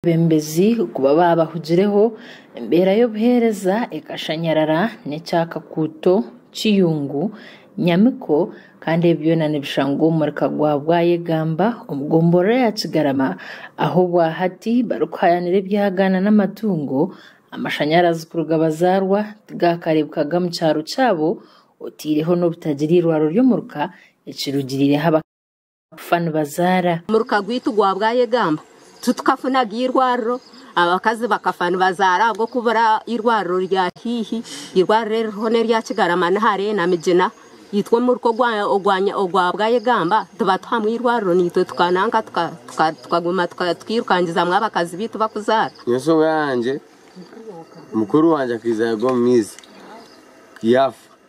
Abeebembezi kuba baabahugireho, embeera y'obuheereza ekashanyarara n'ekya Kakuuto, Kiyungu, Nyamiko kandi ebi byona nibishangwa omu murika gwa Bwayegamba omu gomborora ya Kigarama ahu obwa hati barikuhayanira ebyagaana n'amatungo, amashanyarazi kuruga bazaarwa tigaakareebekaga mu kyaro kyabo otaireho n'obutagira eirwariro ry'omuruka ekirugirireho abakaaga. kufa nibazaara. Omuruka gwaitu gwa bwayegamba titukafunaga eirwariro, abakazi bakafa nibazaara ahabw'okubura eirwariro rya haihi. Eirwariro eririho n'erya Kigarama Nihare na Migina. Itwe omuruka ogwa bwayegamba tibatuhamu eirwariro naitwe tukananka tukaguma tukairukangizamu abakazi baitu bakuzaara. Nyowe enshonga yangye mukuru wangye akaija yaagwa omu maizi yaafa.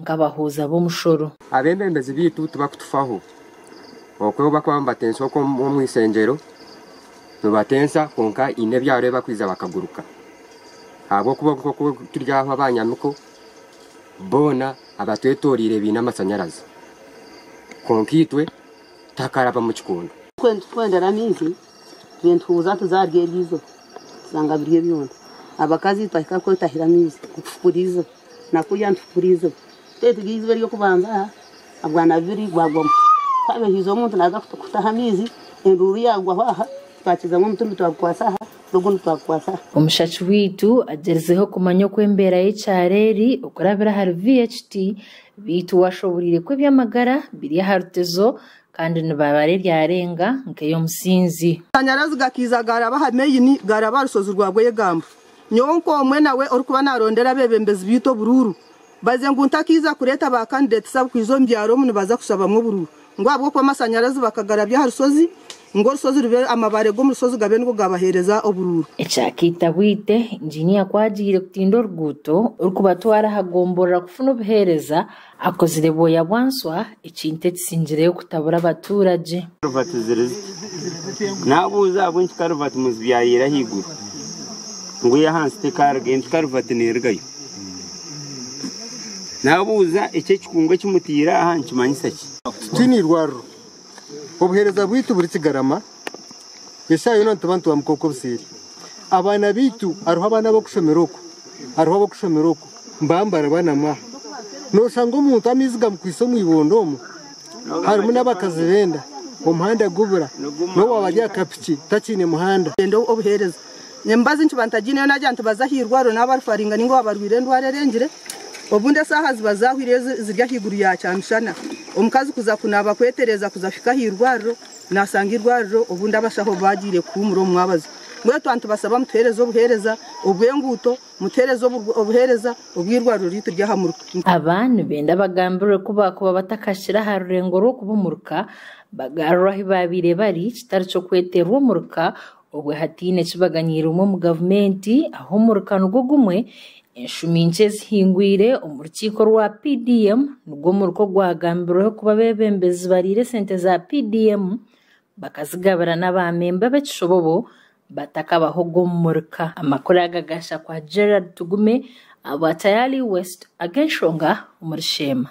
nk'abahuuza b'omushoro. Abebembezi baitu tibakutufaho. Okwo obu bakuba nibatensa okwo omu ishengyero, nibatensa kwonka haine ebyaro ebi bakwija bakaguruka. Ahabw'okuba nk'oku turi aha abanyamiko, boona abatwetoreire baine amashanyarazi. Kwonka itwe tihakarabwamu kikondo. Itwe nitukwendera amaizi, itwe nituhuuza nituza ahari eryo izooba, tushanga biri ebyonda. Abakazi twahika kwo twahira amaizi, nitufukura izooba. Nakurya nituhukura eiziba. Twetega eiziba ery'okubanza aha bwana bubiri bwagwamu. Twaba haihi omuntu naaza kutaha amaizi, enduuru yaagwaho aha, twakizamu omuti ondi twagukwatsa aha, n'ogundi twagukwatsa aha. Omushaki waitu agyerizeho kumanya oku embeera y'ekyaro eri okurabira ahari VHT, beitu washoboreire ku eby'amagara biri aha rutezo kandi nibabara eryarenga nk'ey'omusinzi. Amashanyarazi gakaiza gaaraba aha maini gaaraba aha rushozi rwa Bwegambo. Nyowe nk'omwe nawe orikuba narondera abebembezi beitu oburuuru, baze ngu ntakaiza kureeta ba candidates abukwiza omu byaro omu nibaza kushabamu oburuuru ngu ahabw'okuba amashanyarazi bakagarabya aha rushozi ngu orushozi rube amabaare g'omu rushozi gabe nigo gabahereza oburuuru. Ekyakaita bwite, Engineer ku agiire kutinda oruguuto orikubatwara aha gomborora kufuna obuheereza, Akozire bwoya bwa nswa, ekintu ekisingireyo kutabura abatuuragye. Karuvati ziri ziti. Naabuuza ahabw'enki karuvati muzibi yaayeera ahaiguru ngu ey'ahansi tekaaruga, enti karuvati neerugayo. Naabuuza eki ekikungu eki mutaire aha nikimanyisa ki? Titwine eirwariro. Obuheereza bwaitu burikigarama, eshaaha yoona nituba nitwamuka okwo obuseeri. Abaana baitu hariho abaana ab'okushomera oku, hariho ab'okushomera oku, mbaaho nibaraaba na mwaha. Nooshanga omuntu amaizi gamukwaitse omu ibondo omu, harimu n'abakazi b'enda, omuhanda gubura, n'owaaba ari aha kapiki takiine muhanda. Obuheereza Emibazi nkiba ntagiineyo naagira nti baze aha irwariro naaba barifaringa nainga waaba arwaire endwara erengire. Obundi eshaaha ziba zaahwire ezi ziri ahaiguru ya kyamishana, omukazi kuza kunaaba kwetereeza kuza kuhika aha irwariro, naashanga eirwariro obundi abashaho baagiire kuhuumura omu mwabazi. Mbwenu tuba nitubashaba mutuheereze obuheereza obw'enguuto, mutuheereze obuheereza obw'eirwariro ryaitu ry'aha muruka. Aba nibenda bagambirwe ku baakuba batakahikire aha rurengo rw'okuba omuruka, bagaruurwe ahu baabaire bari, kitari ky'okweterwa omuruka Obwe hataine kibaganiirwemu omu gavumenti aho omuruka nigwo gumwe, enshumi nkye ezihingwire omu rukiiko rwa PDM nigwo muruka ogwagambirweho kuba abebembezi bariire sente za PDM bakazigabira n'abamemba b'ekishobobo batakabahoga omu muruka. Amakuru aga gaahitsya kwa Gerald Tugume ahabwa Tayali West ag'enshonga omuri Sheema.